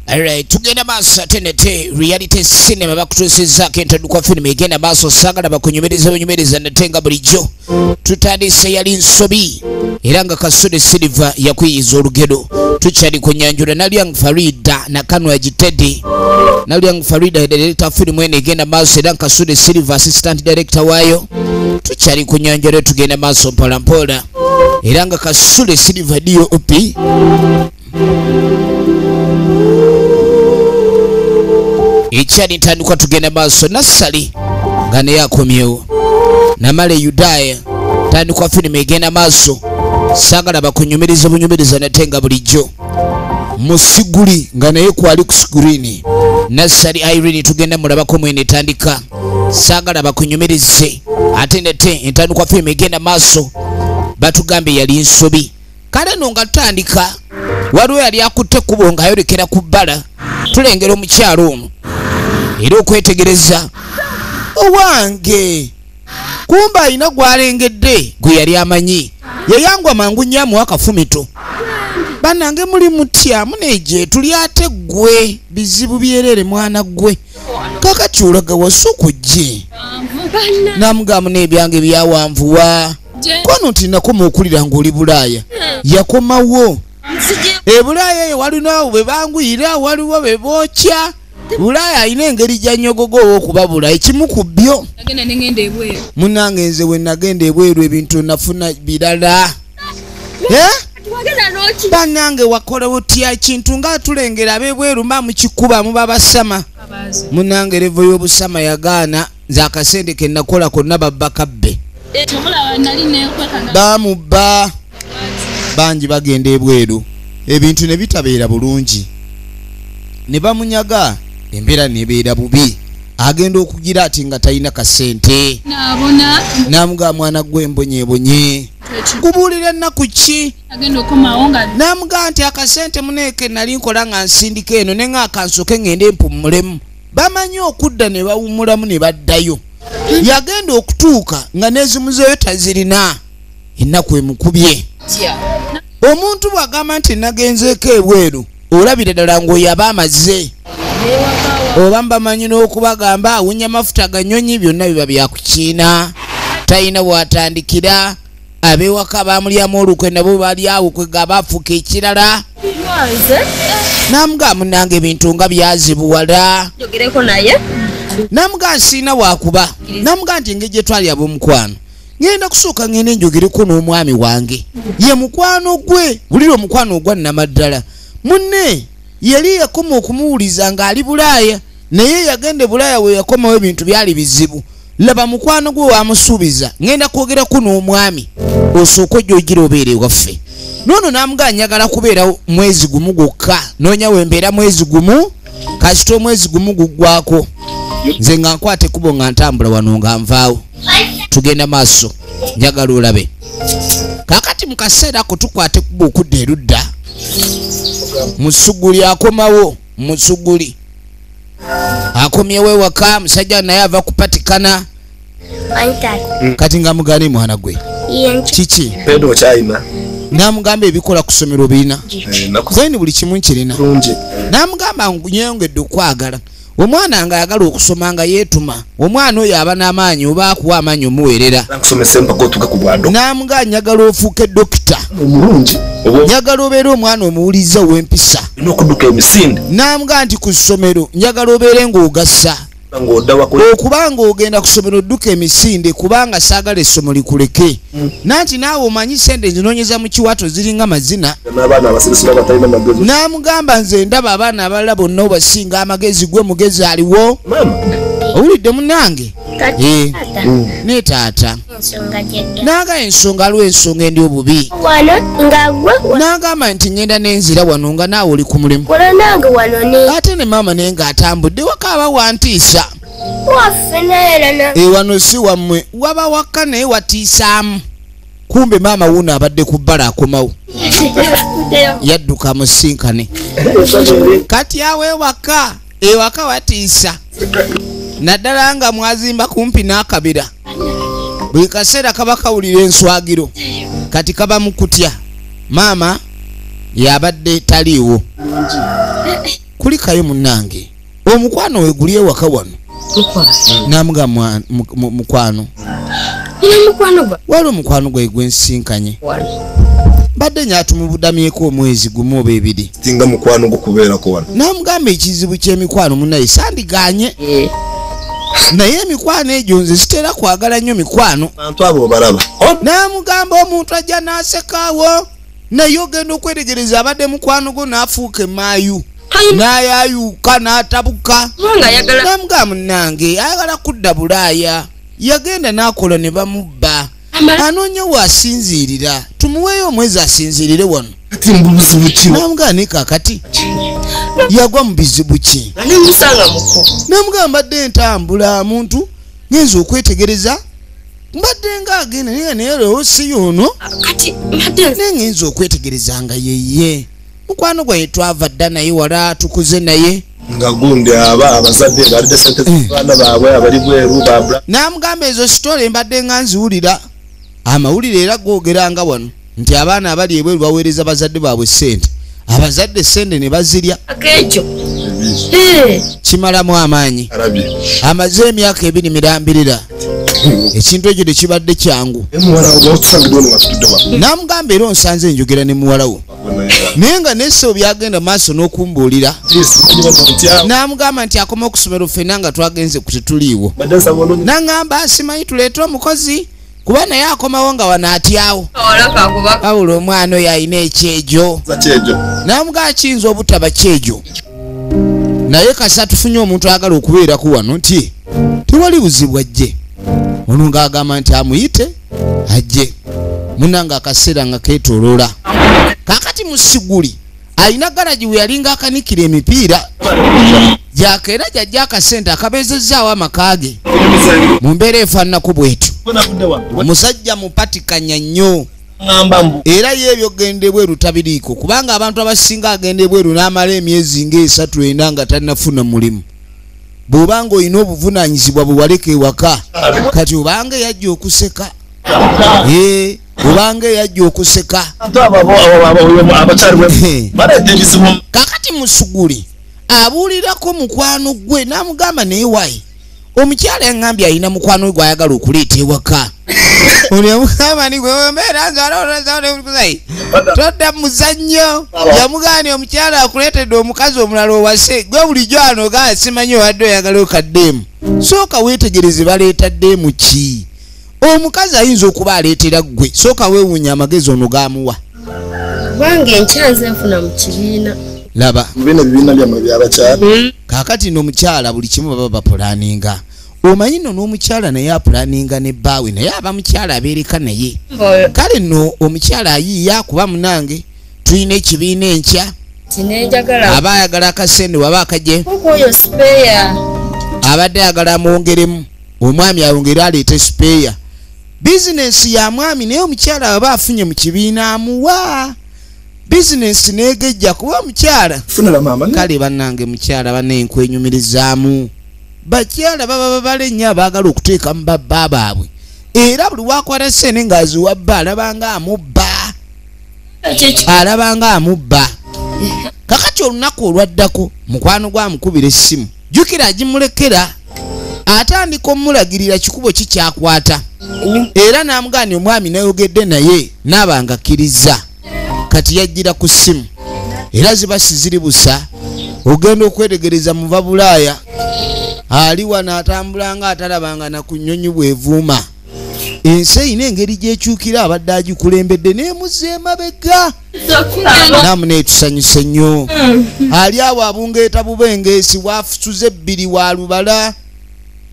Alright, tugenda maaso ate nate reality cinema bakutuusizaako entadukwa firimu egenda maaso saagala bakunyumiriza bunyumiriza nate nga bulijjo tutandise yali nsobi era nga kasudi silver yakuyiyiza olugero tukyali ku nyanjula nalyang farida nakanwa gitedi nalyang farida yadirekta firimu eno egenda maaso era nkasudi silver assistant director waayo tukyali ku nyanjula tugenda maaso mpolampola era nga kasule silver dop ekyali ntandikwa tugenda maaso nassali nga naye akomyewo namala eyudaaya tandikwa firimu egenda maaso saagala bakunyumiriza bunyumiriza nate nga bulijjo musiguli nga naye kwali ku sigulini nassali irene tugenda mulabako mwene etandika saagala bakunyumirize ate nate entandikwa fiimu egenda maaso batugambye yali nsobi kale no nga tutandika waliwo yali akutte kubo ng'ayolekera ku bbala tulengera omukyalo ono era okwetegereza owange kumbe alina gwalengedde gwe yali amanyi yeyangwa mangu nnyo amuwa akafumito banange muli mutya muneje tuli ate ggwe bizibu byerere mwana ggwe kakati olaga wasuku gye namugamu n'ebyange byawanvuwa kwano nti nakoma okulira ng'oli bulaaya yakomawo ebulaaya eyo walinawo bwe banguyira waliwo be bookya bulaaya alina engeri gyanyogoga owokubabula ekimu ku byo munange nze wenagenda ebweru ebintu nafuna birala banange wakola otya kintu nga tulengera abebweru mba mukikuba muba basama munange revo y'obusama yagaana nze akasente ke nakola konna babba kabbe eh, bamubba bangi bagenda ebweru ebintu ne bitabeera bulungi ne bamunyaga embeera nebeera bubi agenda okugira ati nga talina kasente namugaa mwana gwe mbonyebonye kubuulira ennaku ki namugaa nti akasente muneeke nali nkola nga nsindika eno ne nga akansoke ngende mpummulemu bamanyi okudda ne bawumulamu ne baddayo yagenda okutuuka nga nezimuzeyo tazirina ennaku emukubye omuntu bwagamba nti nagenzeeko ebweru olabira ddala ngaoyaba amaze oba mbamanyi n'okubagamba awunya mafuta ganyonyi byonna biba byakukiina talina bwatandikira abewaka bamulyamu olukwe nabo bali awo kwega bafuka ekirala namuga munange ebintu nga byazibuwala namuga nsiina wakuba namuga nti engeri gyetwali abomukwano ngenda kusooka ngenda enjogereko n'omwami wange ye mukwano gwe bulira omukwano ogwa namaddala munne yali yakoma okumuwuliza ng'ali bulaaya naye yagenda e bulaaya weyakomawo ebintu byali bizibu laba mukwano gwe wamusuubiza ngenda kwogerako n'omwami osooka ojja ogira obeera ewaffe noono namugaa njagala kubeera mwezi gumu gwokka noonya wembeera mwezi gumu kasita omwezi gumu guggwako nze nga nkwata ekubo nga ntambula wano nga nvaawo tugenda maaso njagala olabe kakati mu kaseera ako tukwata ekubo okudda erudda musuguli akomawo musuguli akomyewo ewaka musajja naye ava kupatikana mm. kati nga mugane mwana gwe kiki namugamba ebikola kusomero obirina then eh, buli kimu nkirina namugamba nyeyongedde okwagala omwana nga ayagala okusoma nga yetuma omwana oyo aba n'amaanyi oba akuwa amaanyi omuweerera n'amuga njagala ofuuke dokita omulungi njagala obeere omwana omuwuliriza ow'empisa n'okuduka emisinde n'amuga nti ku ssomero njagala obeere ng'ogasa okuba ng'ogenda ku ssomero odduka emisinde kubanga saagala essomo likuleke nanti naawe omanyi sente zinonyeza mu kiwato ziringa mazina namugamba nze ndaba abaana abalala bonna obasinga amagezi gwe mugezi aliwo owulidde munange eh. mm. ne taata nagaya ensonga lw ensonga endi obubi nagamba nti ngenda nenzira wano nga naawe oli ku mulimu ate ne maama naye nga atambudde wakaaba wantiisa ewano eh, si wammwe waba wakka naye watiisaamu kumbe maama wuuno abadde ku bbala akomawo yadduka musinkane kati awo ewaka ewaka watiisa naddala nga mwazimba kumpi n'akabira buli kaseera kaba kawulira enswagiro kati kaba mu kutya maama yabadde taliiwo kulikayo munnange omukwano weguli ewaka wano namuga mukwano wali omukwano gwe gwensinkanye mbadde nyatumubudamyeko omwezi gumu oba ebiri singa mukwano gwo kubeerako wano namugamba ekizibu kyemikwano munaye sandiganye eh. naye emikwano egyo nze sitera kwagala nnyo mikwano namugamba omuntu ajja nasekaawo naye ogenda okwetegereza abadde mukwano gwo n'afuuka emaayu n'ayayuuka n'atabuka namugaa munange ayagala kudda bulaaya yagenda n'akola ne bamubba anoonya waasinziirira tumuweeyo omwezi asinziirire wano kati mbubuzibu ki namugane kakati yagwa mu bizibu ki namugamba dde ntambula muntu ngenza okwetegereza mbadde nga agenda naye naye leero siyo ono kati mbadde naye ngenza okwetegereza nga yeye mukwano gwaye twava dda naye wala tukuze naye nga gundi aba abazadde balidde sente eh. zabaana baabwe abali bweru babra namugamba ezo sitole mbadde nga nziwulira amawulire era googera nga wano nti abaana abali ebweru baweereza bazadde baabwe ssente abazadde ssente ne bazirya ekyo kimalamu amaanyi amaze emyaka ebiri mirambirira ekintu ekyo tekibadde kyangu namugamba era onsanze enjogera ne muwalawo naye nga neso byagenda maaso n'okumbuulira namugamba nti akoma okusomero ffena nga twagenze ku tetuliiwo nangamba asimanyi tuleete omukozi kuba naye akomawo nga wano atyawo wabula omwana oyo alina ekyejo namuga akiyinza obutaba kyejo naye kasa tufunye omuntu ayagala okubeeraku wano nti tewali buzibu ajje ono ngaagamba nti amuyite ajje munanga akaseera nga ketoloola kakati musiguli alina garagi we yalinga akanikira emipiira gyaka era gyajja akasente akabeezezzaawo amaka ge mu mbeera efaananako bwetyo omusajja mupatikanya nnyo era ye ebyogenda ebweru tabiriiko kubanga abantu abasinga agenda ebweru n'amala emyezi ngaesatu ena nga tannafuna mulimu bw'obanga olina obuvunaanyizibwa bwe waleka ewaka kati obanga eyajja okuseka ee obanga eyajja okuseka kakati musuguli abuulirako mukwano gwe n'amugamba naye wayi omukyala yaŋambye alina mukwano we gwayagala okuleeta ewaka todda muzannyo yamugambye omukyala akuleetedde omukazi omulala owase gwe bulijjo ano gaa simanyi owadde oyagala okaddeemu sooka weetegereze baleeta ddeemu ki omukazi ayinza okuba aleetera ggwe sooka weewuunya amagezi ono gaamuwa kubanga enkyanze nfuna mu kibiina laba mubino ebibiina byammwe byabakyala hmm. kaakati no omukyala buli kimu baba bapulaninga omanyi no n'omukyala naye apulaninga ne bbaawe naye aba mukyala abeereka naye kale no omukyala ayiiya kuba munange tulina ekibiina enkya aba ayagala akasente waba akaje abadde ayagala amwongeremu omwami awo ngaera aleeta esipeeya bizinensi ya mwami naye omukyala aba afunye mu kibiina amuwa bizinensi negejja kuba omukyala kale banange mukyala banenkwenyumirizaamu bakyala baba babala ennyo abaagala okuteeka mu babba baabwe era buli wakwata sente ngaaziwa bba alabanga amubba alabanga amubba kakati olunaku olwaddako mukwano gwamukubira essimu jukira agimulekera atandika omulagirira kikubo ki kyakwata era n'amugaani omwami nayogedde naye naaba nga akkirizza kati yajjira ku ssimu era ziba siziri busa ogenda okwetegereza muva bulaaya ali wano atambulanga atalabanga nakunyonyi bwevuuma ensi erina engeri gyekyukira abadde agikulembedde nemuza emabega namuna etusanyuse nnyo mm. ali awo abungeeta bubengeesi wafusuza ebbiri wa lubala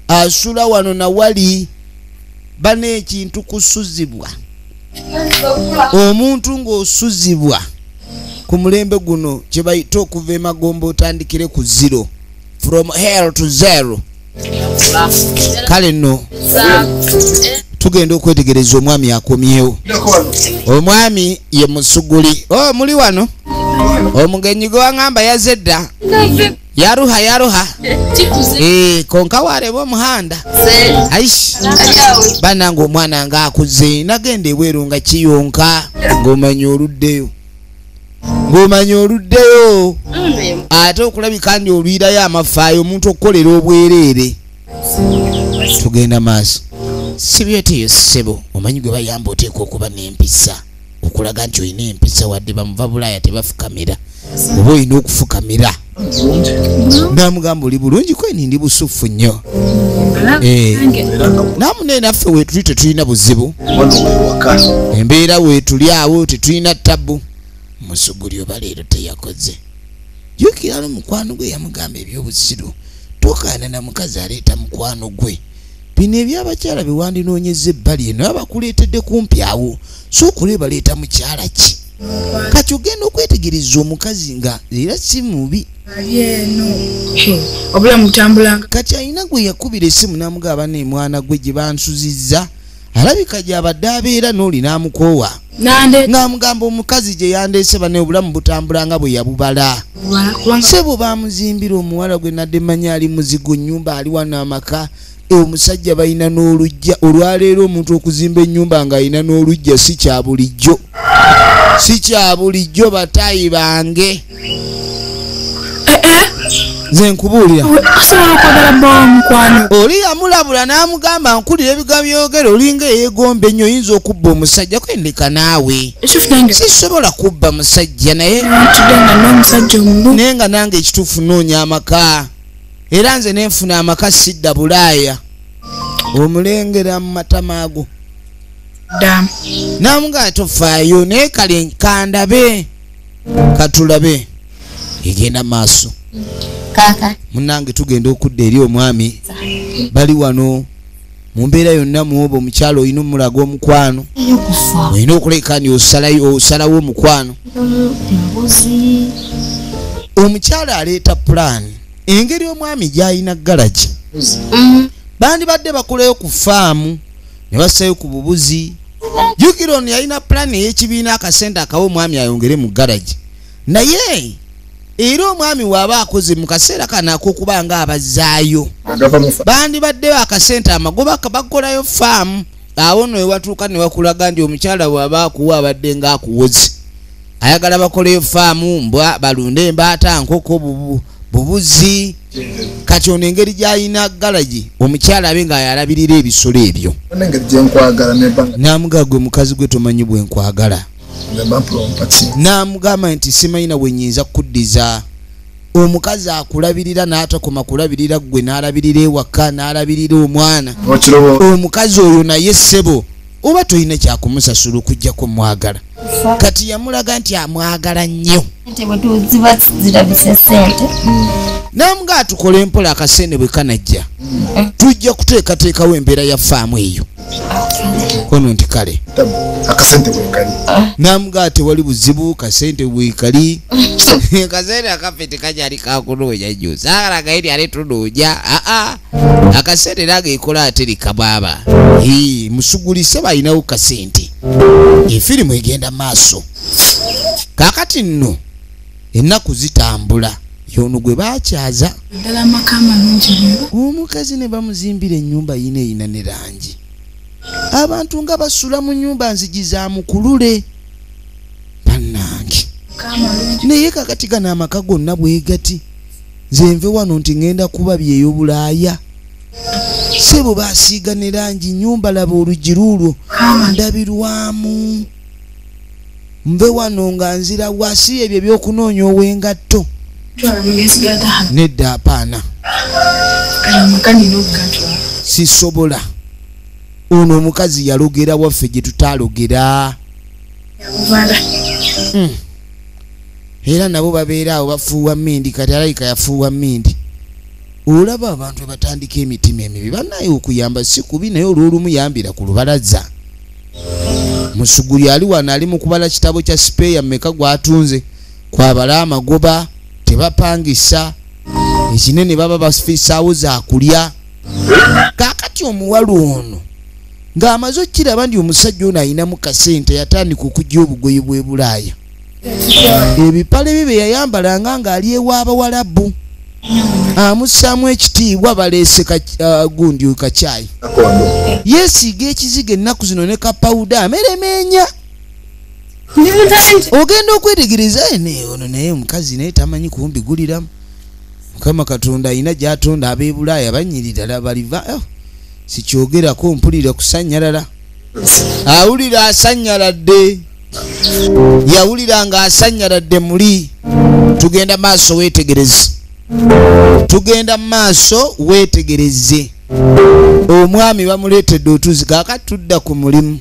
asula wano na wali bana ekintu kusuzibwa omuntu ng'osuzibwa ku mulembe guno kye bayita okuva emagomba otandikire ku zero from hell to zero kale nno tugenda okwetegereza omwami akomyewo omwami ye musuguli o oh, muli wano omugenyi gwe waŋamba yaze dda yaruha yaruha e, konka wareba omuhanda aish banange omwana nga akuze nagenda ebweru nga kiyonka ngaomanyi oluddeyo ng'omanya oluddeyo mm. ate okulabika ndi oluyirayo amafaayo omuntu okukolera obwereere tugenda maaso sibyeteyo sebo omanyi gwe bayamba oteeka okuba n'empisa okulaga nti olina empisa wadde bamuva bulaaya tebafukamira oba olina okufukamira namugamba oli bulungi kweni ndi busuffu nnyo eh. namunaye naffe wetuli tetulina buzibu embeera wetuli awo tetulina tabbu musuguli oba leero teyakoze jukira no mukwano gwe yamugamba ebyobusiru tokaana na mukazi aleeta mukwano gwe bino ebyabakyala bewandinoonyeza ebbali eno abakuleetedde kumpi awo sookola ebaleeta mukyala ki kati ogenda okwetegereza omukazi nga era si mubi obulamu butambula kati alina gwe yakubira esimu namuga abana emwana gwe gye bansuzizza alabika gyabadde abeera n'oli n'amukoowa ng'amugamba omukazi gye yandeese bane obulamu butambula nga bwe yabubala sebo baamuzimbira omuwala gwe nadde manya ali muzigo nnyumba ali wano amaka e omusajja balina n'olujja olwaleero omuntu okuzimba ennyumba ng'alina n'olujja si kya bulijjo si kya bulijjo bataayi bange eh, eh. nze nkubuulira osobola okwagala bbawa mukwano oli yamulabula n'amugamba nkulira ebigambo byogera olinga eyegomba ennyo oyinza okubba omusajja kwendeka naawe sisobola kubba musajja naye naye nga nange ekituufu noonya amaka era nze nenfuna amaka sidda bulaaya omulengera mu matama ago namuga tofaayo naye kale kandabe katulabe egenda maaso munange tugenda okudda eri omwami bali wano mu mbeera yonna muoba omukyalo olina omulaga omukwano olina okuleka ni osalawo omukwano omukyalo aleeta pulaani engeri omwami gyalina galagi mm. bandibadde bakulayo ku faamu ne bassayo ku bubuzi jukira ono yalina pulaani ey'ekibiina akasente akawa omwami ayongere mu garagi naye era omwami waaba akoze mu kaseera kano ak'okuba nga abazaayo bandibaddeyo akasente amagoba bakolayo faamu awo no ewatuuka ne wakulaga nti omukyala waaba akuwa abadde nga akuwozi ayagala bakoleyo faamu mbwa balunde embaata nkoko bubu bubuzi kati ono engeri gyalina galagi omukyala abe nga yalabirira ebisolo ebyo namugaa gwe mukazi gwe tomanyi bwenkwagala namugamba nti simanyi nawe nyinza kukuddiza omukazi akulabirira n'atakoma kulabirira ggwe n'alabirira ewaka n'alabirira omwana omukazi oyo naye ssebo oba tolina kyakumusasulwa okujjako mwagala kati yamulaga nti amwagala nnyo namuga atukole empola akasente bwe kanajja mm. tujja kuteekateekawo embeera ya faamu eyo kono nti kale ah. namuga tewali buzibu kasente bwekali kasente akafe tekajali kakunoonya nyo sagalagaeri ale tunoonya aa ah, ah. akaseera era gekola ate likabaaba musugulise balinawo kasente efirimu egenda maaso kakati nno ennaku zitambula yono gwe bakyaza omukazi ne bamuzimbira ennyumba yina eyina ne langi abantu nga basula mu nyumba nzigi za mukulule bannange naye kakati gano amaka gonna bwegati nze nve wano nti ŋenda kuba byeyo bulaaya sebo basiiga ne langi nyumba laba oluggi luulwo ndabirwamu nve wano nga nzira wasi ebyo ebyokunoonya owengatto nedda apaana sisobola ono omukazi yalogera waffe gye tutaalogera hmm. era nabo babeera awo bafuuwa mindi kati alayika yafuuwa mindi olaba abantu webatandika emitima emibi banaye okuyamba si kubi naye olwolumu yambira ku lubalaza musuguli ali wano ali mu kubala kitabo kya sipeeya mumeka gwatunze kwabala amagoba tebapangisa ekinene baba bafisaawo zakulya kakati omuwala ono ng'amaze okukiraba nti omusajja ono alinamu kasente yatandika okujja obugoye bw'e bulaaya ebipale bye bye yayambalanga ng'ali ew'abawalabu amussaamu ekitiibwa baleese uh, gundi kacyayi yeesiiga ekiziga ennaku zino ne kapawuda ameremeenya ogenda okwetegereza ono naye omukazi naye tamanyi kumbi guliramu mukama katonda alina gyatonda abebulaaya banyirira baliva oh. sikyogerako mpulira kusanyalala awulira asanyaladde yawulira nga asanyaladde muli tugenda maaso wetegereze tugenda maaso wetegereze omwami bamuleetedde otuzi kakati tudda ku mulimu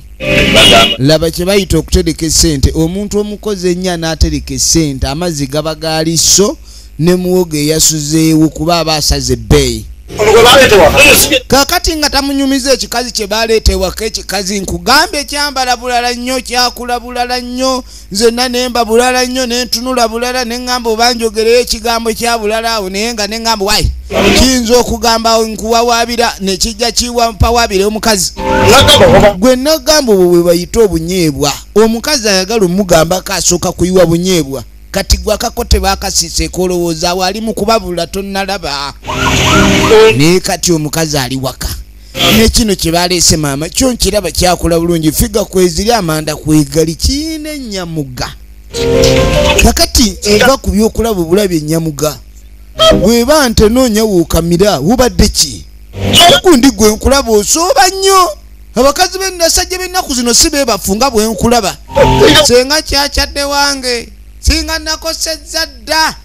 laba kye bayita okutereka esente omuntu omukozi ennya n'atereka esente amazzi gaba gaali so ne muwogo eyasuzeewo kuba aba asaze ebbeeyi kakati nga tamunyumiza ekikazi kye baleeta ewaka ekikazi nkugambye kyambala bulala nnyo kyakula bulala nnyo nzenna nemba bulala nnyo nentunula bulala neŋŋamba obanjogereyo ekigambo kya bulala awo naye nga neŋŋamba wayi kiyinza okugamba nkuwawaabira nekijja kiwampawaabire omukazi gwe nagamba obwo bwe bayita obunyeebwa omukazi ayagala omugambako asooka kuyiwa bunyeebwa kati gwe akako tebakasiseeko olowooza awo ali mu kubabula tonnalaba naye kati omukazi ali waka nekino kyebaleese maama kyo nkiraba kyakula bulungi figa kweziri amanda kwegali kiina enyamuga kakati va ku byokulaba obulabi enyamuga bweba ntenoonya wuukamira wubadde ki okundi gwe nkulaba osooba nnyo abakazi benasajja bennaku zino si bebafu nga bwenkulaba senga kyakyadde wange singa nakosezza dda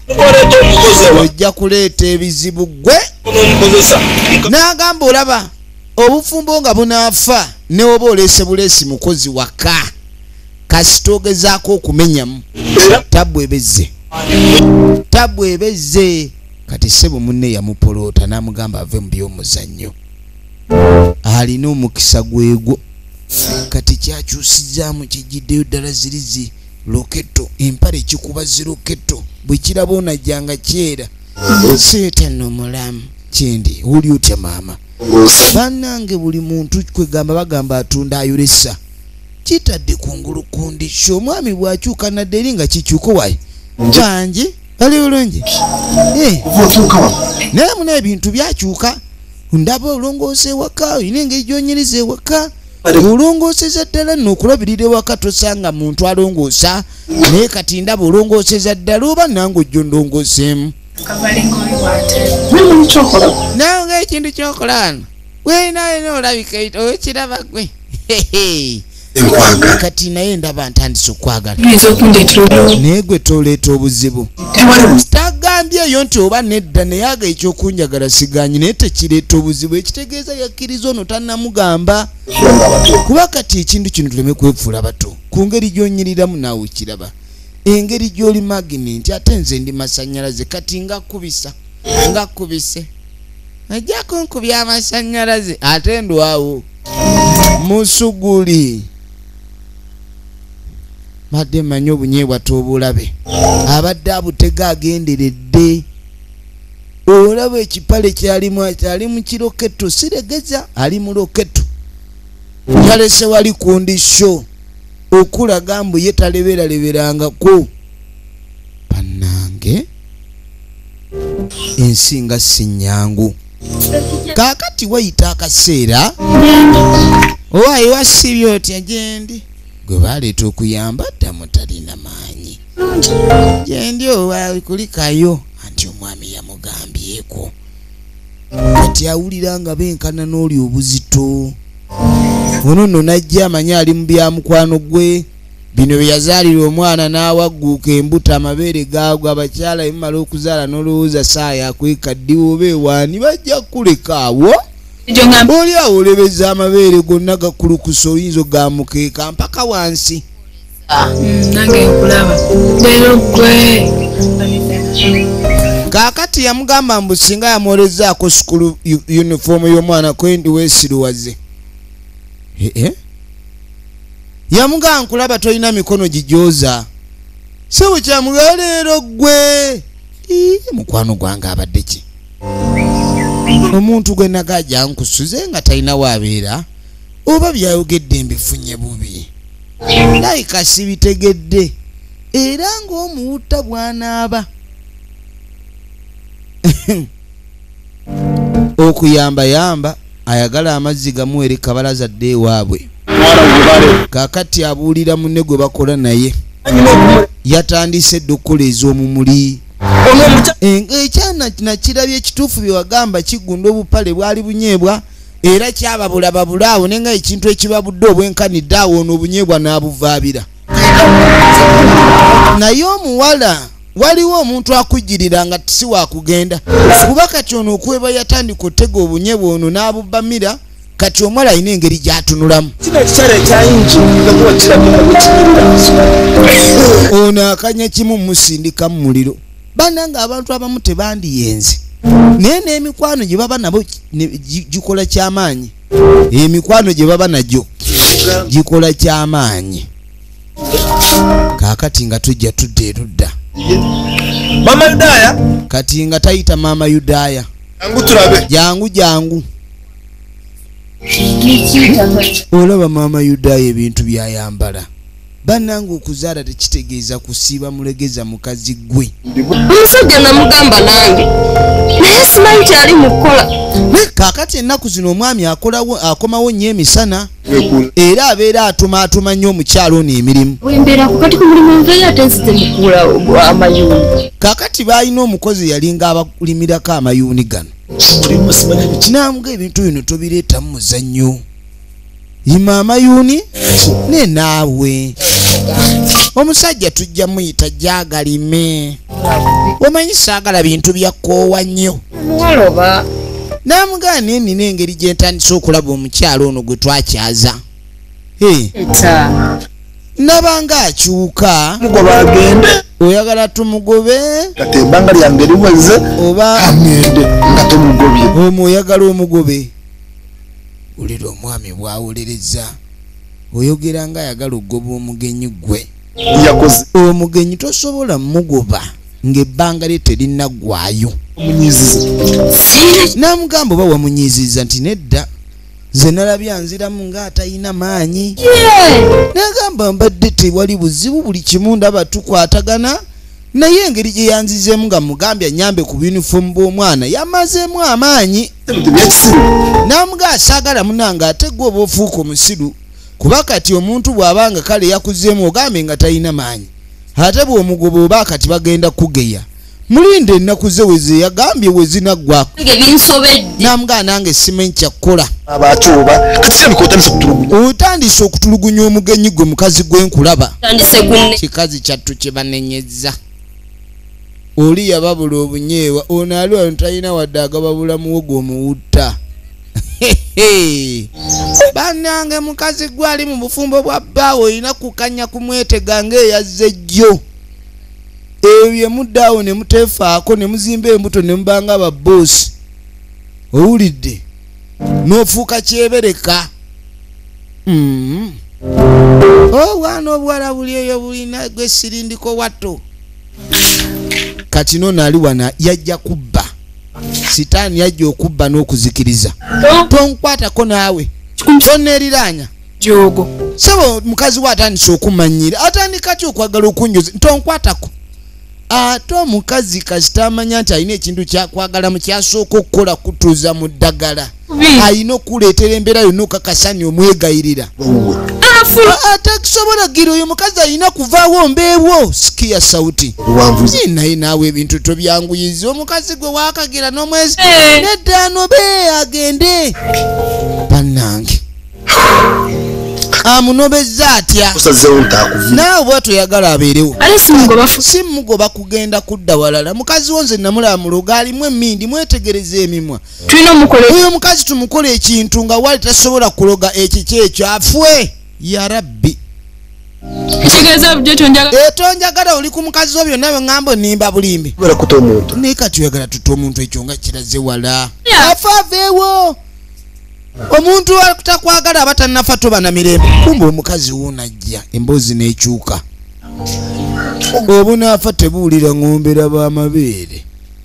ojja kuleeta ebizibu gwe n'agamba olaba obufumbo nga bunaafa newoba oleese buleesi mukozi waka kasita ogezaako okumenyamu tabu ebezze tabu ebezze kati sebo munne yamupoloota n'amugamba ave mu by'omuzannyo alina omukisa gwegwo kati kyakyusizaamu kijjiddeyo ddala zirizi loketto empale kikuba ziroketto bwe kiraba onajja nga kyera seetano mulamu kyendi oli otya maama banange buli muntu kwegamba bagamba atunda ayolesa kitadde kungulu kundiki omwami bwakyuka nadde eri nga kikyuko wayi bangi bali bulungi eh. naye muna ebintu byakyuka ndaba olongoosa ewaka olina engeri gyonyiriza ewaka olongooseza ddala nno okulabirira ewaka tosanga muntu alongoosa naye kati ndaba olongooseza ddala oba nange ojjo ndongooseemu nawe ngaekintu kyokola wano wenaena olabika okiraba gwe enkwagala kati naye ndaba ntandise okwagala naye gwe toleeta obuzibu tagambye eyo nti oba nedda naye aga ekyokunjagala siganyi naye tekireeta obuzibu ekitegeeza yakkiriza ono tanamugamba kuba kati ekintu kino tuleme kwefuula bato ku ngeri gyonyiriramu naawe kiraba engeri gyoli maginenti ate nze ndi masanyalaze kati ngakubisa ngakubise ajja kunkubya amasanyalaze ate ndwawo musuguli madde manyi obunyeebwa tobulabe abadde abutega agenderedde olaba ekipale kyalimu ali mukiroketo siregeza ali muroketo yalese wali kundi sho okulaga mbu ye taleberaleberangako banange ensi nga sinyangu kaakati wayita akaseera owaayi wasiibye otya gyendi gwe baleeta okuyamba ddamu talina maanyi gyendi owaayi kulikayo anti omwami yamugambyeko kati awulira nga benkana n'oli obuzito ono nno najja amanyi ali mu byamukwano gwe bino bye yazaalira omwana n'awagguuka embuto amabeere gaagwa abakyala emumala okuzaala n'olowooza saaya akweka ddiwa oba ewaani bajja kukuleka awo oli awo olebeza amabeere gonna gakulukusa oyinza ogamukeeka mpaka wansi ah, mm, nange nkulaba lero gwe kaakati yamugamba mbu singa yamwolezaako sukulu yunifoomu y'omwana kwendi weesiruwaze ee eh, eh? yamugaa nkulaba tolina mikono gijooza sebo kyamugaa leero gwe mukwano gwange abadde ki omuntu gwe naga jankusuze nga talina waabeera oba byayogedde mbifunye bubi layika sibitegedde era ng'omuwutta bwanaaba okuyamba yamba ayagala amazzi gamuwere kabalaza adde ewaabwe kakati abuulira munne gwe bakola naye yatandise edda okukola ez'omumuli ekyana nakirabye ekituufu byewagamba kigunda obupale bwali bunyeebwa era kyababula babula awo nenga ekintu ekibabudde obwenkanidde awo ono obunyeebwa n'abuvaabira naye omuwala waliwo omuntu akujjirira nga si wakugenda kuba kati ono okweba yatandika otega obunye bwono n'abubbamira kati omwala alina engeri gyatunulamu ono akanya kimu musindika mu muliro bana nga abantu abamu tebandiyenze naye n'emikwano gye baba nabo gikola kyamaanyi emikwano gye baba nagyo gikola kyamaanyi kakati nga tujja tudda erudda mama yudaya kati nga tayita mama yudaya jangu tulabe jangu jangu olaba mama yudaya ebintu byayambala banange okuzaala tekitegeeza kusiiba mulegeza mukazi gwe omusajja namugamba nange naye simanyi kyali mukukola kakati ennaku zino omwami akolawo akomawo nnyo emisana era abeera atumaatuma nnyo omukyalo ono emirimu kakati baalina omukozi yalinga abalimirako amayuuni gano kinambwa ebintu bino tobireetamu muzannyo yima amayuuni ne naawe omusajja tujja muyita gyagalime omanyi saagala bintu byakkoowa nnyo omuwala oba n'amugaa naye nina engeri gye ntandise okulaba omukyalo ono gwe twakyaza nabanga akyuka mugoba agende oyagala tumugobe kati ebbanga lyange liweze oba amende nga tumugobye omu oyagala omugobe wulira omwami bwawuliriza oyogera nga ayagala okugoba omugenyi gwe yakoze oyo mugenyi tosobola mugoba ng'ebbanga lye terinaggwayo n'amugamba oba wamunyiiziza nti nedda nze nalabye anziramu ng'atalina maanyi n'agamba mbadde tewali buzibu buli kimu ndaba tukwatagana naye engeri gye yanzizeemu nga mugambye anyambe ku bunifomu bw'omwana yamazeemu amaanyi n'amuga asaagala munange ate gwe oba ofuuka omusiru kuba kati omuntu bw'aba nga kale yakuzeemu ogambe nga talina maanyi ate bw'omugoba oba kati bagenda kugeya mulinda ennaku ze weze yagambye wezinaggwako namugaa nange simanyi kyakkola otandise okutulugunya omugenyi gwe mukazi gwenkulaba kikazi kyattu kyebanenyezza oli yababula obunyeewa onaaliwano talina wadde agababulamuwo gwomuwutta banange mukazi gwe ali mu bufumbo bwa bbaawe olina kukanya kumwetega ngaeyazze jjo ebyo byemuddaawo ne muteefaako ne muzimba embuto ne mubanga ababoosi owulidde n'ofuuka kyebereka mm-hmm. obwana oh, obuwala buli eyo bulina gwe sirindiko watto katino nali wana yajja kubba sitaani yajja okubba n'okuzikiriza tonkwatako naawe toneeriraanya jogo sebo mukazi we atandise okumanyira atandika ti okwagala okunjoza tonkwatako ate omukazi kasita amanya nti alina ekintu kyakwagala mu kyasooka okukola kutuuza mu ddagala ayina okukuleetera embeera yonna okakasani omwegayirira ah, atakusobola gira oyo mukazi ayina kuvaawo mbeewo sikiya sauti naye naawe ebintu tobyanguyiza omukazi gwe wakagira n'omwezi eh. neddaano be agende bannange amunobezza atya naawe bwatyo yagala abeerewo simugoba kugenda kudda walala mukazi wo nze namulaba muloga alimu emindi mwetegereza emimwa tulina omukola oyo omukazi tumukola ekintu nga wali tasobola kuloga ekiki ekyo afwe ya rabbi etonjagala eh, oli ku mukazi wo byonna byoŋambo nimba bulimbi naye kati oyagala tuta omuntu ekyo nga kiraze wala afa aveewo omuntu takwagala aba tanafa toba na mirembe kumba omukazi wonajja emboozi n'ekyuka obunaafa tebuwulira ŋombera b'amabeere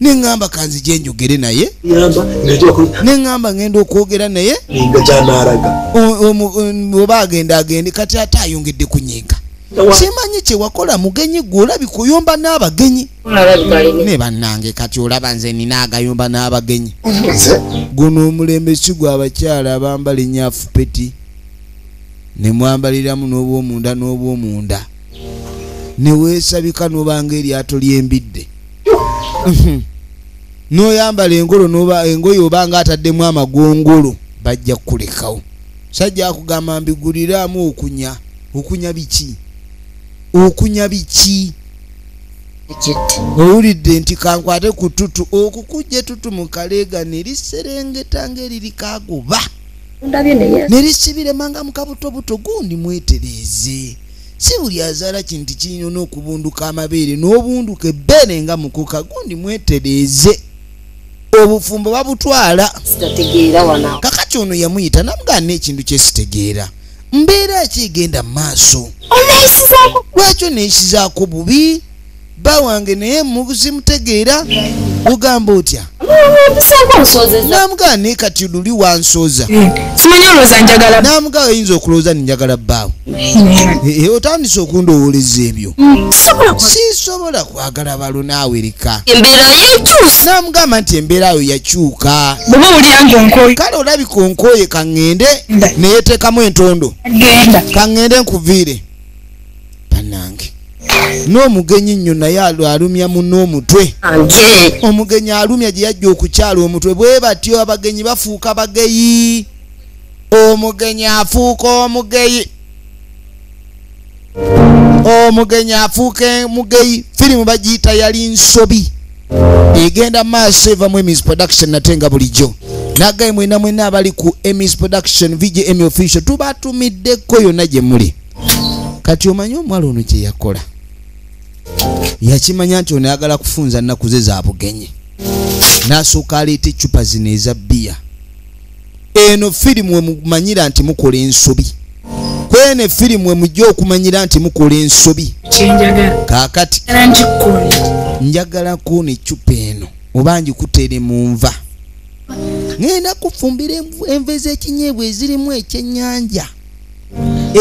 neŋŋamba kanzije njogere naye neŋŋamba ŋŋenda okwogera naye oba agenda agende kati ate ayongedde kunyiika simanyi kyewakola mugenyi gwe olabika oyomba n'abagenyi ne bannange kati olaba nze nina agayomba n'abagenyi guno omulembe si gwa abakyala abambala enyafu peti ne mwambaliramu n'obwomunda n'obwomunda ne weesabika n'obanga eryato ly'embidde mhm. noyambala engolo noba engoye oba nga ataddemu amagongolo bajja kukulekawo sajja akugamba mbiguliraamu okunya okunya biki okunya biki owulidde nti kankwate ku tutu okukujja etutu mu kaleega neriserengeta ngaeriri kagoba nerisibiremanga mukabutobuto gundi mwetereeze si buli azaala kino nti kirina n'okubunduka amabeere n'obunduka ebbeere nga mukoka gundi mwetereeze obufumbo babutwala kakati ono yamuyita namugaa n'ekintu kyesitegeera mbeera ki egenda mu maaso lwekyo neyisizaako bubi bba wange naye muzimutegeera ogamba otya namugaa naye kati luli wansooza eh, namugaa oyinza okulowooza ninjagala bbaawo eh, eh, otandise okundowooleza ebyo mm, sisobola kwagala balo naawereka namugamba nti embeera yo yakyuka kale olabika onkooye kaŋŋende neyeteekamu entondo kaŋŋende nkuviire banange n'omugenyi nnyo naye alumya muno omutwe omugenyi alumya gye yajja okukyala omutwe bwe batyo abagenyi bafuuka bageyi omugenyi afuuka omugeyi omugenyi afuuka mugeyi firimu bagiyita yali nsobi egenda maaso evamu emis production nate nga bulijjo nagaye mwena mwena abali ku emis production vgm official tubatumiddeko yonna gye muli kati omanyi omwala ono kye yakola yakimanya nti ono ayagala kufunza nnaku ze za bugenyi n'asooka aleeta eccupa zino eza bbiya eno firimu emumanyira nti mukola ensobi kwene firimu emujja okumanyira nti mukola ensobi kakati njagala kuona eccupa eno oba ngikutere mu nva ŋenda kufumbira enva ez'ekinyeebwa ezirimu ekyennyanja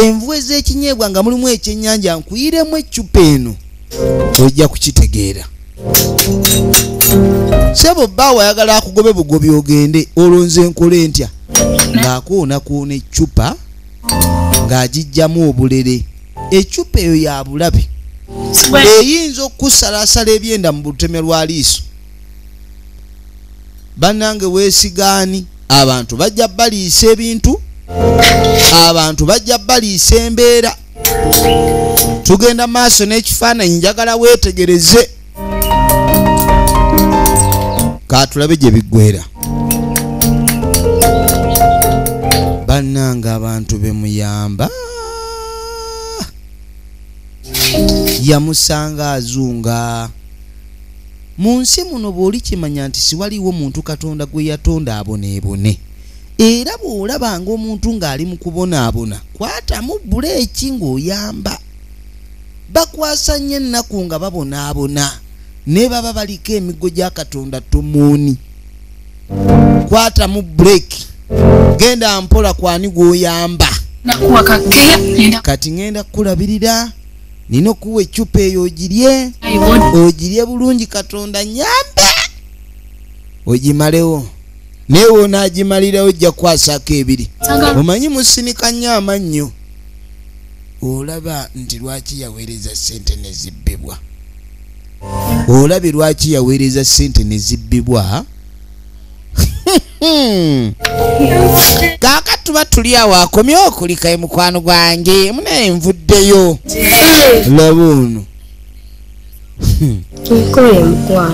envu ez'ekinyeebwa nga mulimu ekyennyanja nkuyiremu eccupa eno ojja kukitegeera sebo baawe ayagala akugobe bugobi ogende olwo nze nkole ntya ng'akoonakoona eccupa ng'agijjamu obulere eccupa eyo ya bulabe eyinza okusalasala ebyenda mu butemya lwa liiso bannange weesigaani abantu bajja baliisa ebintu abantu bajja baliisa embeera tugenda maaso n'ekifaananyi njagala weetegereze katulabe gye biggwera bannange abantu be muyamba yamusanga azunga mu nsi muno bw'olikimanya nti siwaliwo muntu katonda gwe yatonda aboneebone era bw'olaba ng'omuntu ng'ali mu kubonaabona kwatamu buleeki ng'oyamba bakwasa nnyo ennaku nga babonaabona ne baba baliko emiggo gya katonda tomuuni kwatamu buleeki genda mpola kwani gwoyamba kati ngenda kukulabirira nina okuwa eccupa eyo ogirye ogirye bulungi katonda nyambe ogimalewo naye wonaagimalirawo ojja kwasako ebiri omanyi musinika nnyo amannyo olaba nti lwaki yaweereza ssente nezibbibwa olabye lwaki yaweereza ssente nezibbibwa Hmm. kaaka tuba tuli awo akomye okulika e mukwano gwange munaye nvuddeyo laba ono hmm.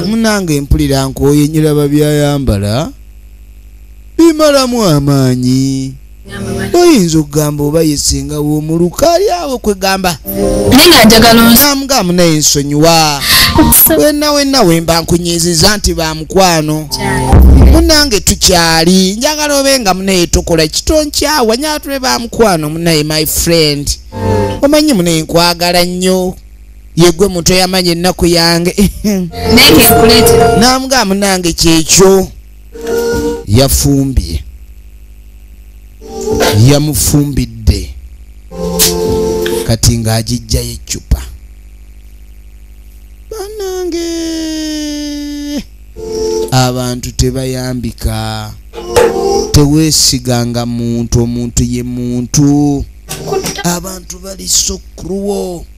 munange mpulira nkooye nyiraba byayambala bimalamu amaanyi oyinza okugamba oba yesinga womuluka ali awo kwegamba namugamu naye nsonyiwa wena wena wemba nkunyiziza nti bamukwano munange tukyali njagala obe nga munaye tukola kitonkyawa nyatule bamukwano munaye my friend omanyi munaye nkwagala nnyo yegwe muto yamanya ennaku yange namugamu nange kyekyo yafumbye yamufumbidde kati ng'agijjayo eccupa banange abantu tebayambika teweesiganga muntu omuntu ye muntu abantu bali sokruwo so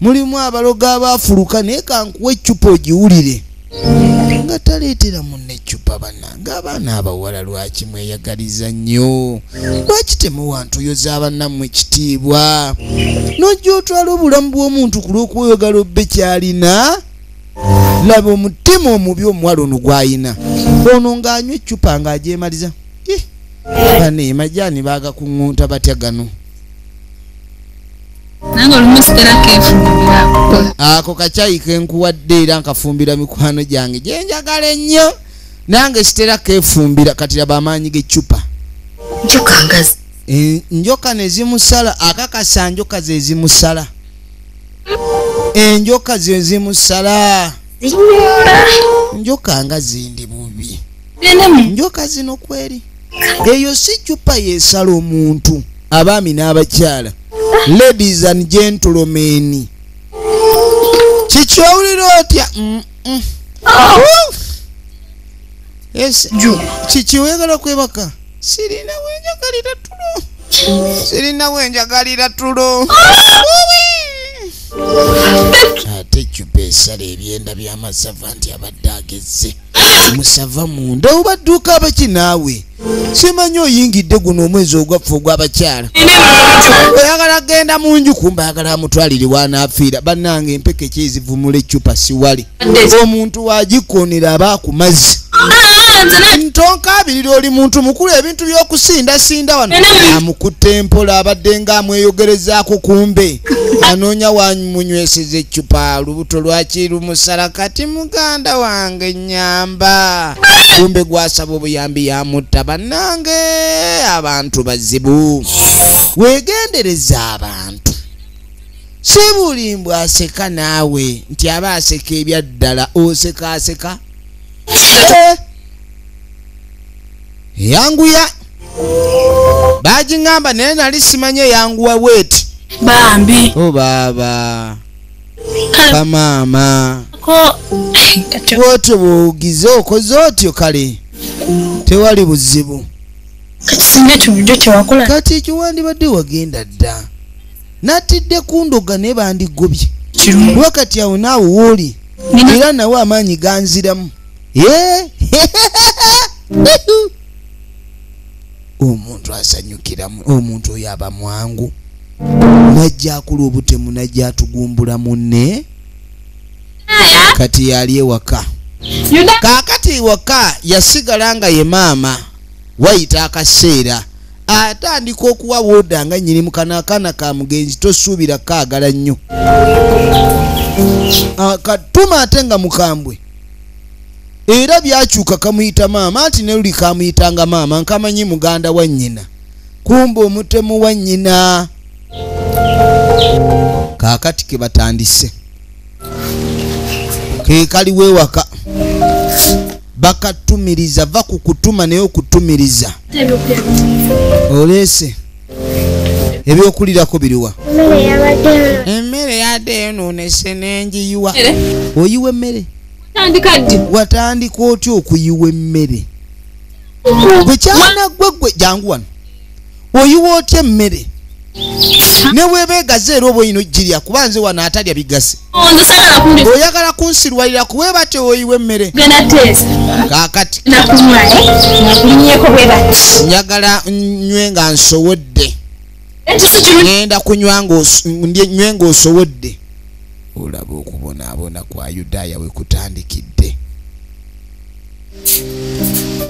mulimu abalogo abaafuluka naye kankuwa eccupa ogiwulire nga taleetera munne eccupa bannange abaana abawala lwaki mweyagaliza nnyo lwaki temuwa ntuyo za bannammwe ekitiibwa n'ojja otwala obulamu bw'omuntu ku lw'okweyogala obbe kyalina laba omutima omubi omuwala ono gwayina ono ng'anywa eccupa ng'agyemaliza bane majaani baagakuŋŋunta batya gano nange olumu sigala kefumbira ako kacayi kenkuwadde era nkafumbira mikwano gyange gyenjagala ennyo nange sitera kefumbira kati laba amaanyi gecupa njoka ngazi e, njoka nezimusala akakasa njoka zezimusala enjoka zezimusala njoka nga zindi bubi njoka zino kweri eyo si cupa yesala omuntu abaami n'abakyala ladies and gentlemen kikyowulira otya kikiwegala kwebaka sirina wenjagalira tulo sirina wenjagalira tulo ate cupa esala ebyenda by'amasava nti abadde agezze musava munda obadduuka abaki naawe simanyi oyingidde guno omwezi ogwaffe ogwabakyala oyagala genda mu nju kumba ayagala amutwalire wanaafiira bannanga empeke kyezivumula eccupa siwali omuntu wagikonera aba akumazzi ntonkaabirira oli muntu mukulu ebintu by'okusindasinda wano amukutte mpola abadde nga amweyogerezaako kumbe anoonya wamunyweseza eccupa lubuto lwaki lumusala kati muganda wange nyamba kumbe gwasaba obuyambi yamutta bannange abantu bazibu wegendereza abantu si buli mbw aseka naawe nti aba aseka ebyaddala oseka aseka eh. yanguya bagiŋamba naye nali simanye yanguwa weti bambi o oh, baaba kale kamaama ko kati bwotyo bwowugize okoze otyo kale tewali buzibu kati singa ekyo bulijjo kyewakola kati ekyo wandibadde wagenda dda natidde kundoga naye bandigobye kirungi kuba kati awo naawe wooli Nina- era nawe amaanyi ganziramu Eh? omuntu asanyukiramu omuntu oyo aba mwangu najja akula obutemu najja atugumbula munne kati yali ewaka kaakati ewaka yasigala nga ye maama wayita akaseera atandika okuwa woda nga nyini mukana akaana ka mugenzi tosuubira kaagala nnyo ah, katuma ate nga mukambwe era byakyuka kamuyita maama anti ne luli kamuyitanga maama nkamanyi muganda wa nnyina kumba omutemu wa nnyina kaakati ke batandise ke kaliwo ewaka bakatumiriza va ku kutuma naye okutumiriza oleese ebyokulirako biriwa emmere yadde eyonoonese nengiyiwa oyiwa emmere watandika otya okuyiwa emmere gwe kyana gwe gwe jangu wano oyiwa otya emmere newebeegaze era oba oyina ogirya kuba nze wano atalya bigase oyagala kunsirwalira kuwe batyo oyiwa emmere kakati njagala nywe nga nsowodde ŋenda kunywa nywe nga osowodde olaba okubonaabona kwa yudaaya we kutandikidde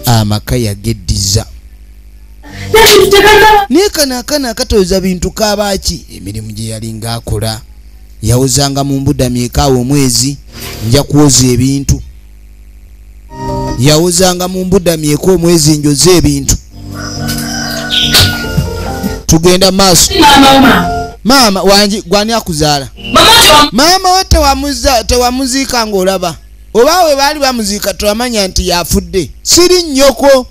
amaka yageddiza naye kano akana akatooza bintu kabaaki emirimu gye yalinga akola yawozanga mu mbuda myekaawo omwezi nja kwoza ebintu yawozanga mu mbuda myeka omwezi njoze ebintu tugenda maaso maama wangi gwani akuzaala maama we tewamuziika ngaolaba oba we baali bamuziika tulamanya nti yafudde siri nnyoko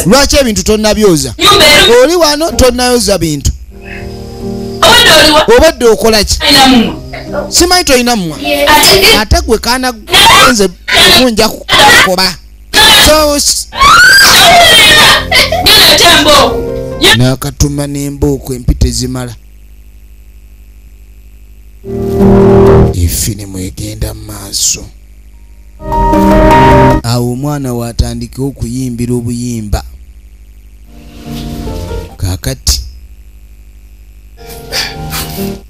lwaki ebintu tonabyoza oli wano tonayoza bintu obadde okolaki simanyi tolina mumwa ate gwe kana nze munja kukoba nakatuma nembooko empita ezimala efirimu egenda mu maaso awo omwana waatandika okuyimbira obuyimba kakati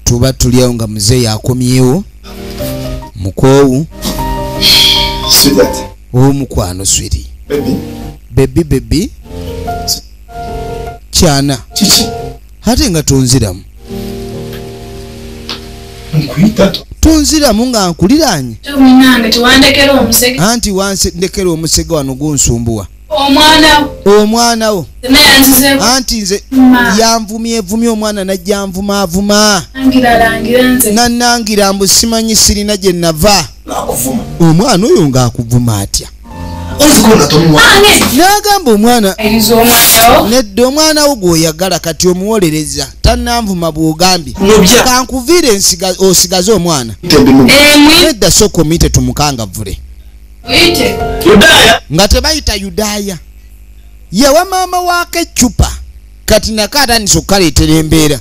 tuba tuli awo nga muzeeyi akomyewo mukoowu omukwano swiri bebi bebi kyana kiki ate nga tonziramu tonziramu nga nkuliranye anti wandekera omusege wano gunsumbuwa omwana wo anti nze yanvumyevumye omwana najja nvumaavuma nanangira mbu simanyi sirina gye nava omwana oyo ng'akuvuma atya n'agamba omwana nedda omwana wo gweoyagala kati omuwolereza tananvuma bwogambye kankuviire osigaze omwana nedda soka omuyite tumukangavule nga tebayita yudaaya yewa maama waako eccupa kati nako atandisa okukaleetera embeera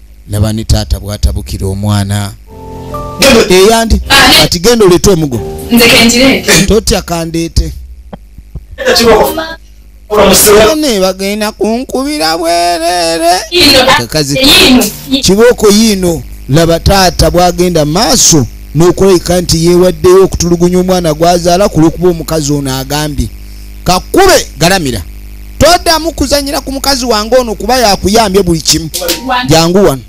laba ne taata bwatabukira omwana eyandi kati genda oleete omugo totya kandeete ne bagenda kunkubira bwerere kakazi kibooko yiino laba taata bwagenda maaso n'okulabika nti yeewaddeyo okutulugunya omwana gwazaala ku lwokuba omukazi ono agambye kakube galamira toddamu kuzanyira ku mukazi wange ono kuba yakuyambye buli kimu jangu wano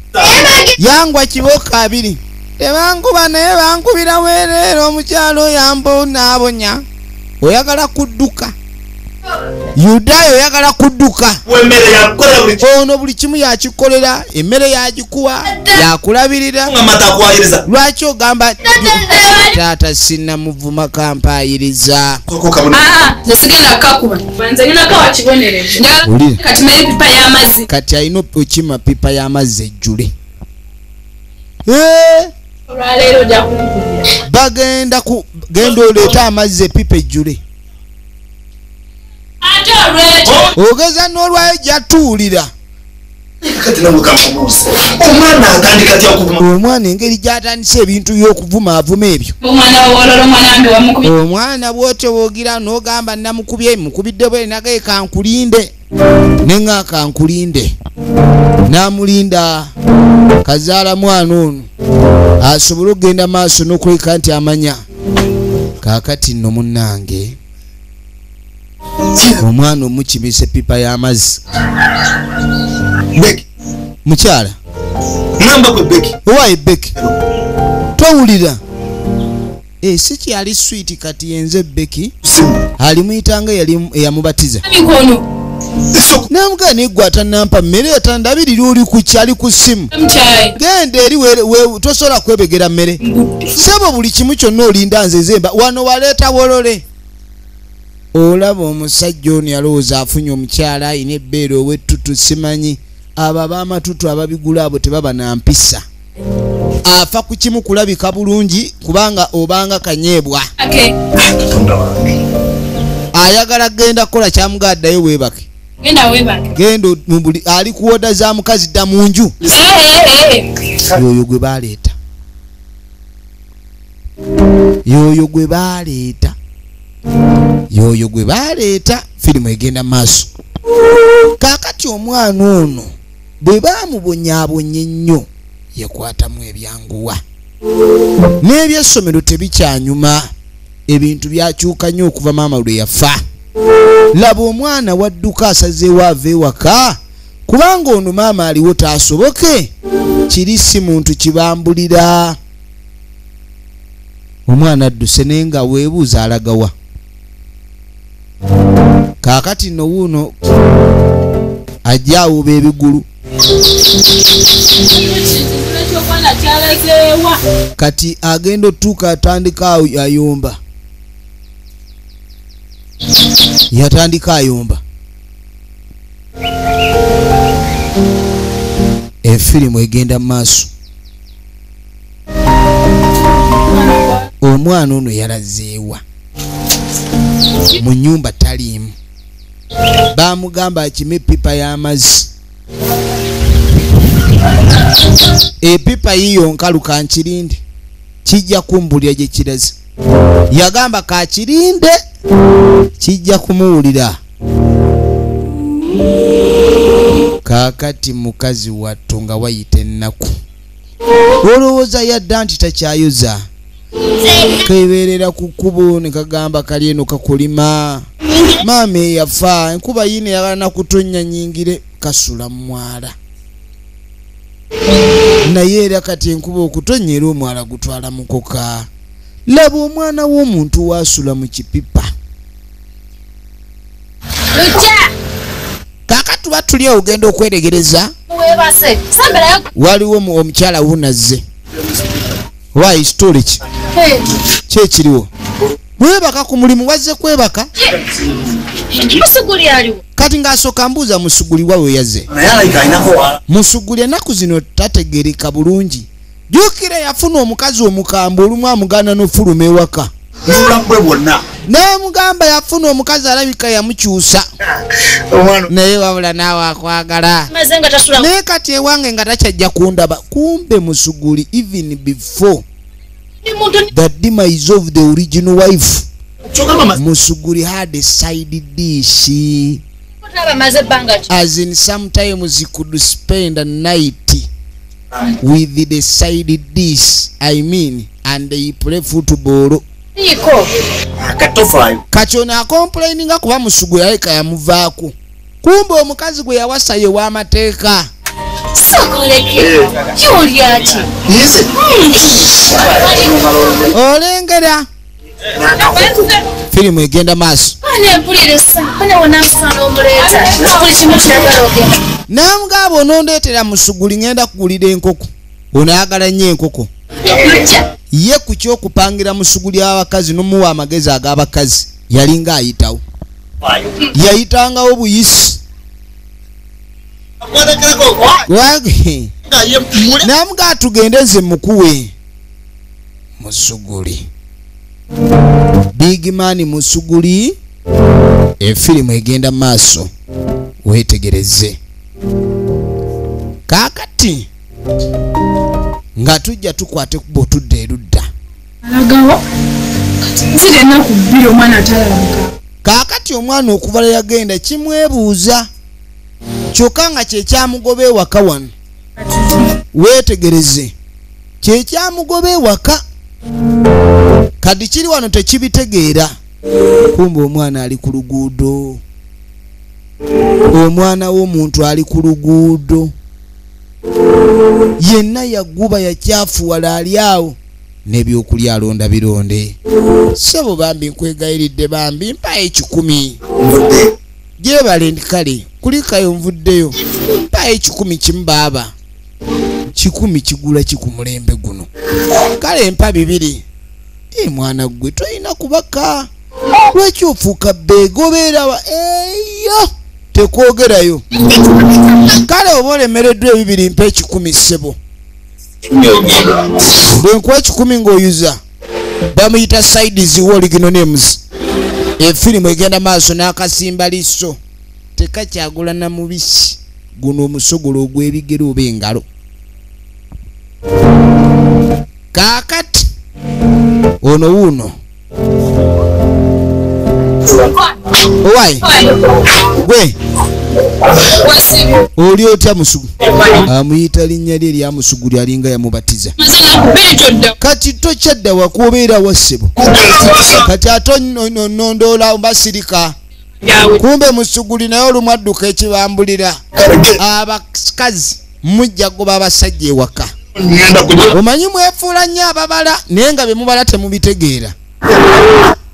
yangwa kiboka abiri tebankuba naye bankubira wereera omukyalo oyambo naabonya oyagala kudduka yudaaya oyagala kudduka ono buli kimu yakikolera emmere yagikuwa yakulabirira lwaki ogamba taata sinamuvuma kampayiriza ah, ah, kati alina okukima pipa y'amazzi ejjule eh? bagenda genda oleete amazzi epipa ejjule ogeza n'olwayo jatuwulira omwana engeri gyatandisa ebintu byokuvuma avuma ebyo omwana bwotyobogira nogamba namukubye mukubidde bwenagaye kankulinde nenga kankulinde namulinda kazaala mwana ono asobole okugenda maaso nokuleka nti amanya kakati nno munnange omwana omukimisa epipa y'amazzi mukyala owaye beki towulira eh, si kyali switi kati yenze beki alimuyitanga eyamubatiza namugaa negwe atanampa mmere yatandabirira oli kukyali ku simu genda eri tosobola kwebegera mmere sebo buli kimu kyonna olinda nzezemba wano waleeta wolole olaba omusajja ono yalowooza afunye omukyala ayina ebbeere owettutu simanyi abo abamatutu ababigula abo tebaba na mpisa afa ku kimu kulabika bulungi kubanga obanga kanyeebwa ayagala genda kukola kyamuga addayo weebake genda mubuli ali kuwoda za mukazi dda mu nju eh, eh, eh. yoyo gwe baleeta yoyo gwe baleeta yoyo gwe baleeta firimu egenda maaso kakati omwana ono bwe bamubonyabonye ennyo yekwatamu ebyanguwa n'ebyessomero tebikyanyuma ebintu byakyuka nnyo okuva maama lwe yafa laba omwana wadduka asazeewo ava ewaka kubanga ono maama aliwo taasoboke kiri si muntu kibambulira omwana adduse naye nga weebuuza alagawa kaakati nno wuuno ajja awuba ebigulu kati agenda otuuka atandika ayomba yatandika ayomba efirimu egenda mu maaso omwana ono yalazeewa mu nyumba taliimu bamugamba akime epipa y'amazzi epipa yiyo nkalu kankirinde kijja kumbulira gye kiraze yagamba kakirinde kijja kumuwulira kaakati mukazi wattu nga wayita ennaku olowooza yadda nti takyayoza kebeerera ku kkubo ne kagamba kali eno kakulima maama eyafa enkuba yiina eyagala nakutonnya nyingire kasula mumwala naye era kati enkuba okutonnya era omwala gutwala mukoka laba omwana w'omuntu waasula mu kipipa kakati tuba tuli ogenda okweregereza waliwo omukyala wunazze oba ekitole ki kyekiriwo webaka ku mulimu wazze kwebaka kati ng'asooka mbuuza musuguli wa weyaze musuguli enaku zino tategereka bulungi jukira yafuna omukazi omukambwe olumu amuganda nofuluma ewaka mubulamu bwe bwonna naye mugamba yafuna omukazi alabika yamukyusa naye wabula naawe akwagala naye kati ewange nga takyajja kundaba kumbe musuguli even before the demise of the original wife musuguli had a side dish as in sometimes he could spend a night with the side dis i mean and they play football kakyona akomplaininga kuba musugu yaleka yamuvaako kumba omukazi gwe yawasa ye w'amateeka olengera firimu egenda maaso namugamba onondeetera musuguli ngenda kugulira enkoko onaagala nnyo enkoko ye ku kyokupangira musuguli abakazi nomuwa amagezi ag'abakazi yalinga ayitawo yayitangawo buyisi namuga tugende nze mukuwe musuguli big man musuguli efirimu egenda maaso wetegereze kakati nga tujja tukwate kuba otudde erudda kakati omwana okubala yagenda kimwebuuza kyokka nga kyekyamugoba ewaka wano weetegereze kyekyamugoba ewaka kadi kiri wano tekibitegeera kumba omwana ali ku luguudo omwana w'omuntu ali ku luguudo yenna yaguba yakyafuwala ali awo nebyokulya alonda bironde sebo bambi nkwegayiridde bambi mpayo ekikumi gyebale ndi kale kulikayo nvuddeyo mpayo ekikumi kimu baaba kikumi kigula ki ku mulembe guno kale mpa bibiri e mwana ggwe tolina kubaka lwaki ofuuka beega obeerawa eyo tekwogerayo kale oba olemereddwa ebibiri mpa ekikumi ssebo bwenkuwa ekikumi ng'oyuza bamuyita side ziwa oligino names efirimu egenda maaso n'akasimba liso tekakyagula na mubisi guno omusogolo ogw'ebigere oba engalo kaakati ono wuuno owaye gwe oli otya musugu amuyita linnya lye eryamusuguli alinga yamubatiza kati tokyadda wakuobeera wassebo kati ate onondoola basirika kumbe musuguli naye olumu adduka ekibambulira abakazi mujja goba abasajja ewaka omanyi mwefuula nnyo ababala naye nga bemubala temubitegeera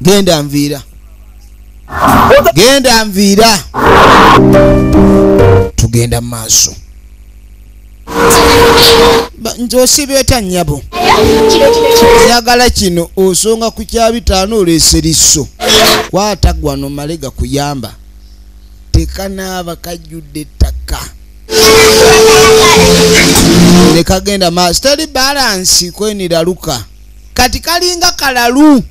genda nviira genda nviira tugenda mu maaso nze osibeeta nnyabo njagala kino osonga ku kya bitaano oleese lisso kwata gwano male gakuyamba tekanaaba kajjudde ettaka ne kagenda maaso teri balansi kweniraluka kati kalinga kalalu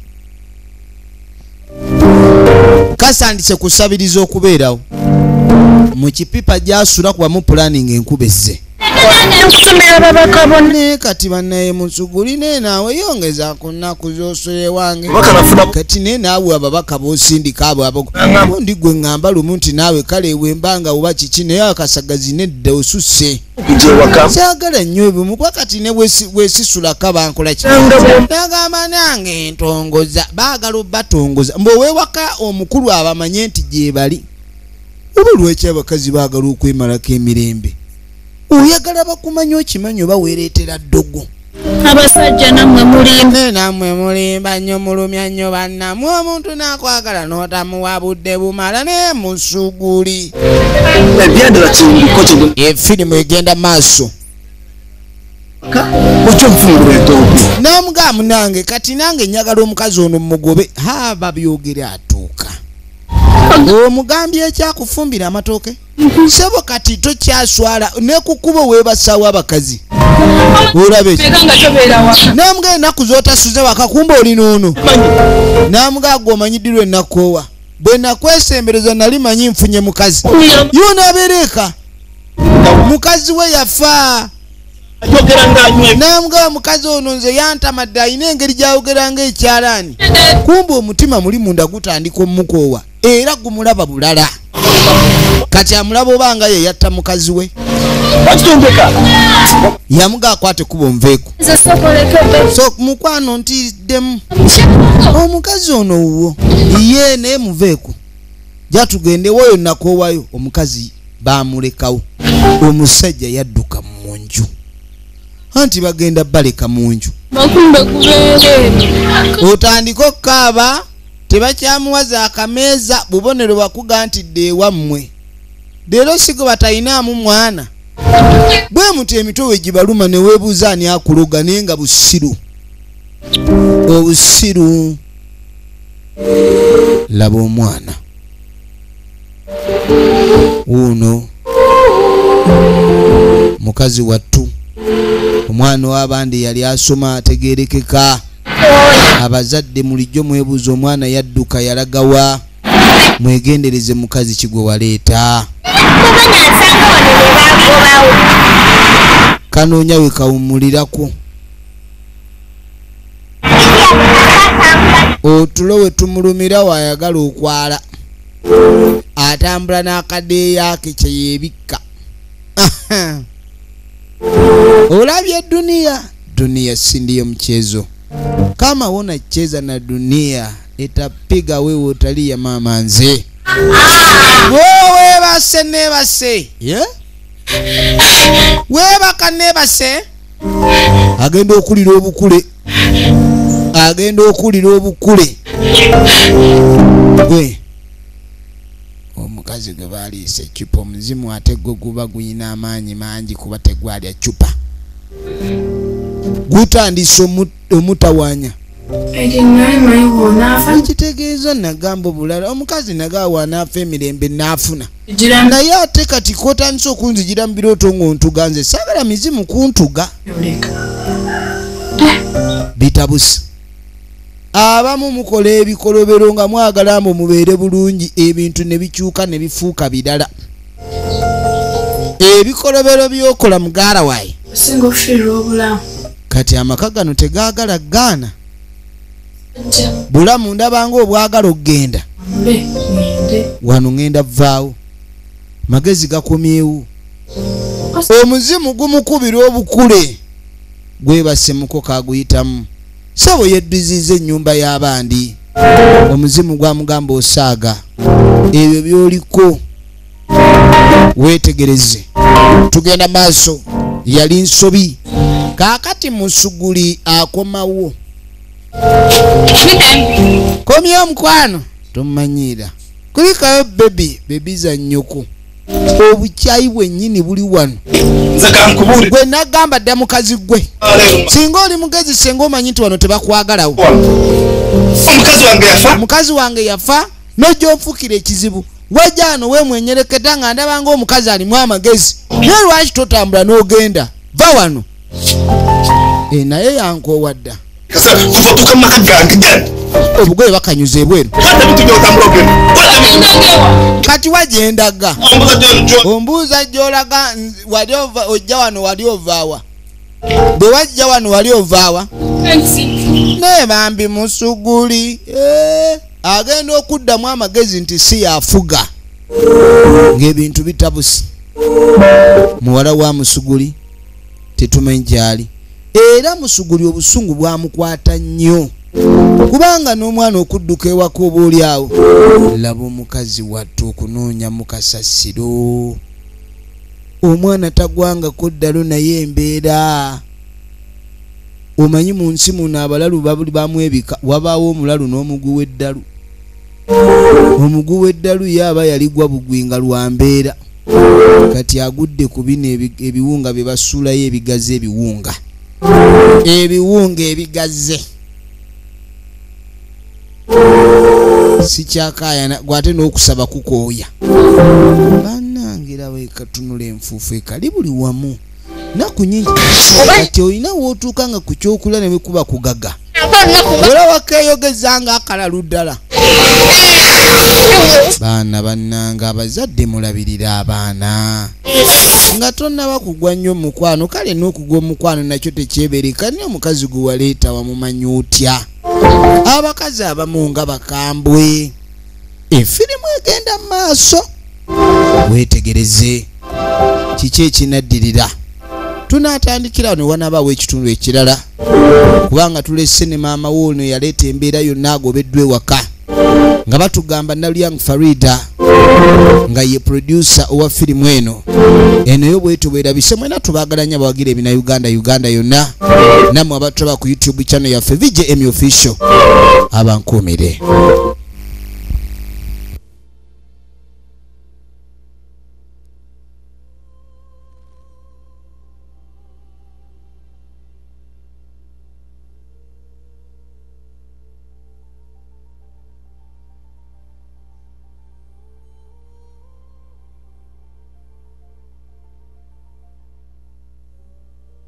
kasandise kusabiriza okubeerawo mu kipipa gyasula kubamu pulani nga enkuba ezze naye kati banaye musuguli naye naawe yongeza ku nnaku zosula ewange kati naye naawe ababaka bosindika abo abagundi gwe ŋŋamba lumu nti naawe kale wembanga oba kiki naye akasagazi nedda osusse kyagala ennyo ebimu kuba kati ne wesisulako bankolaki nagamba nange entongoza baagala obatongoza mbu owewaka omukulu abamanye nti gyebali oba lwaki abakazi baagala okwemalako emirembe oyagala bakumanya okimanyi oba wereetera ddogo abasajja namwe mulimba eh, namwe mulimba nnyo mulumya nnyo bannamwe omuntu nakwagala notamuwa budde bumala naye musuguli efirimu eh, egenda maaso nomugamu nange kati nange njagala omukazi ono mumugobe ha babyogere atuuka omugambye ekyakufumbira amatooke sebo kati tokyaswala nekukubo webasawo abakazi olabe namuga enaku zotasuze wakakumba oli nono namuga agwe omanyidirwa enakoowa bwenakwesembereza nali manyi nfunye mukazi yona abereeka mukazi we yafa namuga mukazi ono nze yantamadde alina engeri gyayogeranga ekyalaani kumba omutima muli munda gutandika omukoowa era gumulaba bulala kati amulaba oba nga ye yatta mukazi we yamuga akwate kuba onveeko so mukwano ntiddemu omukazi ono wuwo ye naye muveeko jatugende woyo nakoowayo omukazi bamulekawo omusajja yadduka mu nju anti bagenda baleka mu nju otandike okukaaba tebakyamuwaza akameeza bubonero bakuga nti dde ewammwe leero sigo batalinaamu mwana bwe muti emitwe we gibaluma ne weebuuza ani akuloga naye nga busiru obusiru laba omwana wuuno mukazi wattu omwana w'abandi yali asoma ategerekeka abazadde mulijjo mwebuuza omwana yadduka yalagawa mwegendereze mukazi kigwe waleeta kanoonya wekawummulirako otulo we tumulumira wayagala okwala atambula n'akadeeyo ake kye yeebikka olabye duniya duniya sindiyo mchezo kama wona cheza na duniya etapiga wewe utaliya mama nze wewebase nebase yeah? webaka nebase agenda okulira obukule agenda okulira obukule gwe omukazi gwe baliisa ecupa omuzimu ate gwe guba guyina amaanyi mangi kuba tegwalya cupa gutandise omutawanya ekitegeeza nagamba obulala omukazi nagawa naafa emirembe naafuna naye ate kati kotandise okunzijira mu birooto ngaontuga nze saagala mizimu kuntuga bitabusi abamu mukola ebikolobero nga mwagala mbu mubeere bulungi ebintu ne bikyuka ne bifuuka birala ebikolobero byokola mugara waye kati amaka gano tegagala gaana bulamu ndabanga obwagala okugenda wano ŋenda vaawo magezi gakomyewo omuzimu gumukubira obukule gwebasemuko kaguyitamu sebo yeddiziza ennyumba y'abandi omuzimu gwamugamba osaaga ebyo byoliko wetegereze tugenda maaso yali nsobi kaakati musuguli akomawo komi omukwano tomanyiira kulikayo bebi bebi za nyoko obukyayi bwenyini buli wano gwe nagamba dda mukazi gwe singa oli mugezi senga omanyi nti wano tebakwagalawo mukazi wange yafa nojonfukira ekizibu wajano wemwenyereketa nga ndabanga omukazi alimu amagezi naye lwaki totambula nogenda va wano eh, naye yankoowa dda obugoye bakanyuza ebweru kati wajendaga ombuuza gyolaga wali ojja wano wali ovaawa bwe wajja wano wali ovaawa naye bambi musuguli eh, agenda okuddamu amagezi nti si yafuga ng'ebintu bitabusi muwala wa musuguli tetumanyi gyali era musuguli obusungu bwamukwata nnyo kubanga n'omwana okudduka ewaka oba oli awo laba omukazi wattu okunoonya mu kasasiro omwana tagwangako ddalo naye embeera omanyi mu nsi muno abalalu bamwebika wabaawo omulalu n'omuguwa eddalu omugu w'eddalu ye aba yaligwa bugwi nga lwa mbeera kati agudde ku bino ebiwunga bye basuulayo ebigazi ebiwunga ebiwunga ebigaze sikyakayana gwe ate n'okusaba kukooya banange era wekatunula enfuufu ekali buli wamu naku nyingi kati olina wootuuka nga ku kyokula ne bekuba kugaga era wakeyogeza nga akalalu ddala baana bannange abazadde mulabirira abaana nga tonnaba kugwa nnyo omukwano kale n'okugwa omukwano nakyo tekyebereka naye omukazi gwe waleeta wamumanyi otya abakazi abamu nga bakambwe efirimu egenda mu maaso weetegereze kiki ekinaddirira tunaatandikira ne wanabaawo ekitundu ekirala kubanga tulese ne maama wo ono eyaleeta embeera yonna agobeddwa ewaka nga batugamba nalyang farida nga ye produsa owa firimu eno eno yo bwetubwerabise mwena tubagalanya bawagira ebina uganda uganda yonna namwe abatulaba ku youtube channel yaffe vjm official abankuumire